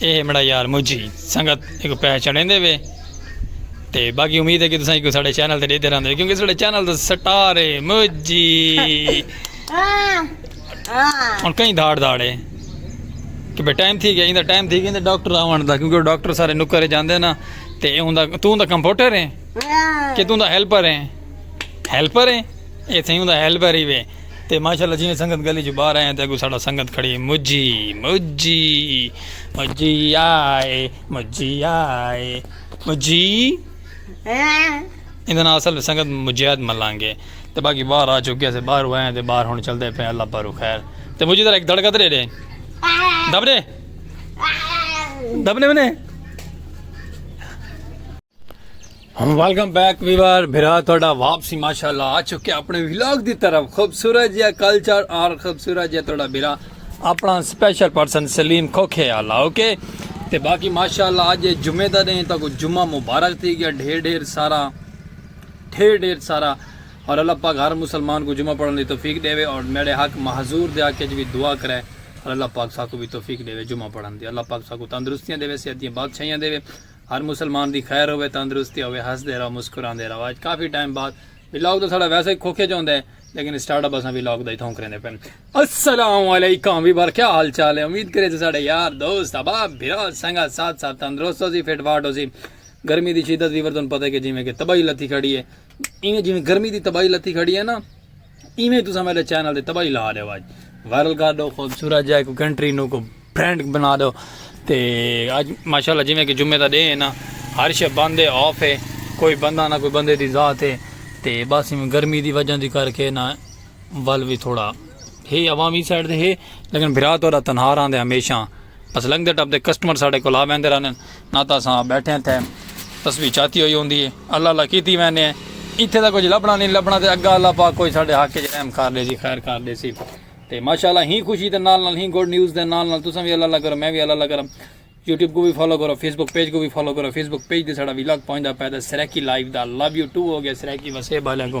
اے ہمڑا یار مجھی سنگت ایکو پیسہ چڑھیں دے وے تے باقی امید ہے کہ تساں ایکو ساڑے چینل تے دیتے رہن دے کیونکہ ساڑے چینل تے سٹار ہے مجھی ہن کہیں دھاڑ دھاڑ ہے کہ بے ٹائم تھی گیا ایندا ٹائم تھی گیا ڈاکٹر آون دا کیونکہ ڈاکٹر سارے نکرے جاندے نا تے اے ہوندا تو ہوندا کمپیوٹر ہے کہ تو ہوندا ہیلپر ہے ہیلپر ہے اے تھیں ہوندا ہیلپر ہی وے تے ماشاءاللہ جیویں سنگت گلی چوں باہر آئے تے اگوں ساڈا سنگت کھڑی ہے مجھی مجھی مجھی آئے مجھی آئے مجھی ایندا نام اصل سنگت مجاہد ملنگ ہے تے باقی باہر آ چکے سے باہر آئے تے باہر ہن چلدے پے اللہ پارو خیر تے مجھی ذرا ایک دھڑکا دے دے دبنے دبنے منے ویلکم بیک ویور بھرا تھوڑا واپسی ماشاءاللہ آ چکے اپنے ویلاگ دی طرف خوبصورت جیا کلچر اور خوبصورت جیا تھوڑا بھرا اپنا سپیشل پرسن سلیم کھوکھے آلا اوکے تے باقی ماشاءاللہ آج جمعہ دا دیں تاکو جمعہ مبارک تھی گیا ڈھیر ڈھیر سارا ڈھیر ڈھیر سارا اور اللہ پاک ہر مسلمان کو جمعہ پڑھنے دی توفیق دے وے اور میرے حق محضور دے آکے جوی دعا کرے اور اللہ پاک ساکو بھی توفیق دے وے جمعہ پڑھنے دی اللہ پاک ساکو تندرستیاں دے وے سیادیاں بادشاہیاں دے وے ہر مسلمان دی خیر ہووے تندرستی ہووے ہسدے رہو مسکراندے رہو اج کافی ٹائم بعد ولاگ تاں ساڈا ویسے ہی کھوکھے جوندے ہیں لیکن اسٹارٹ اپ اساں ولاگ دا ہی تھوں کریندے پن السلام علیکم وی بار کیا حال چال ہے امید کرے تساں ساڈے یار دوست احباب بھرا سنگا ساتھ ساتھ تندرست ہو سی فٹ فاٹ ہو سی گرمی دی شدت وی بار توں پتہ ہے کہ جویں کہ تباہی لتھی کھڑی ہے ایویں جویں گرمی دی تباہی لتی کھڑی ہے نا ایویں تساں میرے چینل دی تباہی لا دیو اج وائرل کر دو خوبصورت جائے کو کنٹری نو کو برانڈ بنا دو تے اج ماشاءاللہ جویں کہ جمعے دا ڈے ہے نا ہر شے بند ہے آف ہے کوئی بندہ نہ کوئی بندے دی ذات ہے تے بس ایویں گرمی دی وجہ دی کر کے نا ول وی تھوڑا ہے عوامی سائڈ دے ہے لیکن بھرا تو تنہا رہندے ہمیشہ بس لنگدے ٹپ دے کسٹمر ساڈے کول آ ویندے رہندے نہ تاں اساں ٻیٹھیں تھے تسبیح چاتی ہوئی ہوندی ہے اللہ اللہ کیتی ویندے ہیں ایتھے تاں کجھ لبھنا نہیں لبھنا تے اگاں اللہ پاک کوئی ساڈے حق وچ رحم کر ڈیسی خیر کر ڈیسی تے ماشاءاللہ ہی خوشی دے نال نال ہی گڈ نیوز دے نال نال تساں وی اللہ اللہ کرو میں وی اللہ اللہ کرم یوٹیوب کو بھی فالو کرو فیس بک پیج کو بھی فالو کرو فیس بک پیج دے ساڈا وی لاگ پہنچدا پے تے سرکی لائیو دا لو یو ٹو ہو گیا سرکی وسیب والے کو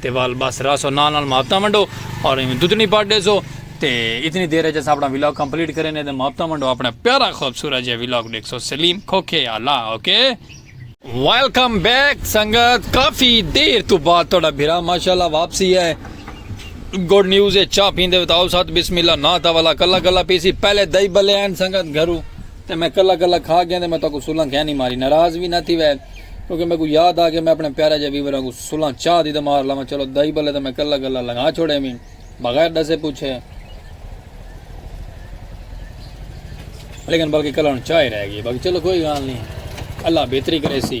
تے وال بس راسو نال نال محبتاں ونڈو اور ایویں دتنی پڑھ ڈیسو تے اتنی دیر اچ اساں اپنا ولاگ کمپلیٹ کرینے تے محبتاں ونڈو اپنا پیارا خوبصورت جے ولاگ ڈیکھسو سلیم کھوکھے آلا اوکے ویلکم بیک سنگت کافی دیر تو بعد تھوڑا بھرا ماشاءاللہ واپسی ہے گڈ نیوز ہے چا پیندے بتاؤ سات بسم اللہ نا تا والا کلا کلا پیسی پہلے دائی بلے ہیں سنگت گھرو تے میں کلا کلا کھا گیا تے میں تو کو سولن کہنی ماری ناراض بھی نہ تھی وے کیونکہ میکوں یاد آ گیا میں اپنے پیارے جے ویور آنگوں سلاں چاہ دی تے مار لاواں چلو دائی بلے تاں میں کلا گلا لنگا چھوڑے ویں بغیر ڈسے پوچھے لیکن بلکہ کلا ہن چاہ ہی رہ گئی باقی چلو کوئی گال نہیں اللہ بہتری کرے سی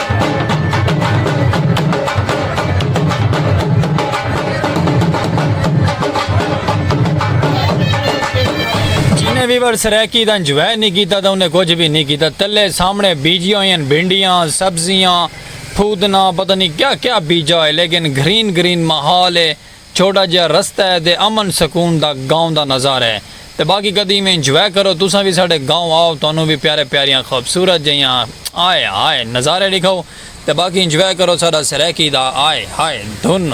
جنہیں ویور سریکی دا انجوائے نہیں کیتا دا انہیں کچھ بھی نہیں کیتا تلے سامنے بیجی ہوئی ہیں بھنڈیاں سبزیاں پھودنا پتہ نہیں کیا کیا بیجا ہے لیکن گرین گرین محال ہے چھوٹا جیہا رستہ ہے تے امن سکون دا گاؤں دا نظارہ ہے تے باقی کدی ایویں انجوائے کرو تساں وی ساڈے گاؤں آؤ تہانوں وی پیارے پیاریاں خوبصورت جیہاں آئے ہائے نظارے ڈکھاؤ تے باقی انجوائے کرو ساڈا سرائیکی دا آئے ہائے دھن۔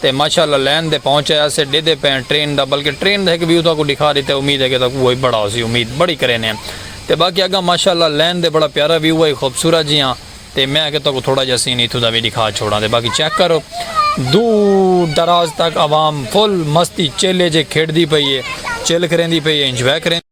تے ماشاء اللہ لین دے پہنچ آیا سے ڈیدے پئے آں ٹرین دا بلکہ ٹرین دا ہک ویو تہاکوں ڈکھا ڈتے امید ہے کہ تہاکوں اوہی بڑا ہوسی امید بڑی کرینے آں تے باقی اگاں ماشاء اللہ لین دے بڑا پیارا ویو ہے خوبصورت جیہاں تے میں آکھیا تہاکوں تھوڑا جیہا سین ایتھوں دا وی ڈکھا چھوڑاں تے باقی چیک کرو دور دراز تک عوام فل مستی چیلے جے کھیڈدی پئی ہے چل کریندی پئی ہے انجوائے کریندی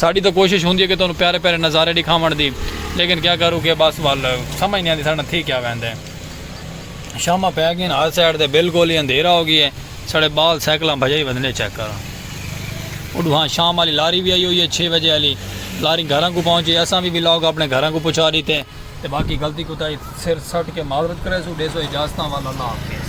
ساڈی تاں کوشش ہوندی ہے کہ تہانوں پیارے پیارے نظارے ڈکھاونڑ دی لیکن کیا کروں کہ بس ول سمجھ نی آندی ساڈے نال تھی کیا ویندے۔ شاماں پے گین ہر سائیڈ تے بالکل ہی اندھیرا ہو گیے ساڈے بال سائیکلاں بھجائی ودھنڈے چیک کر اوڈوہاں شام آلی لاری وی آئی ہوئی ہے چھے وجے آلی لاری گھراں کوں پہنچ گئی اساں وی وی لاگ اپنے گھراں کوں پہنچا ڈیتے۔ تے باقی غلطی کوتاہی سر سٹ کے معذرت کریسوں ڈیسو اجازتاں ول اللہ حافظ۔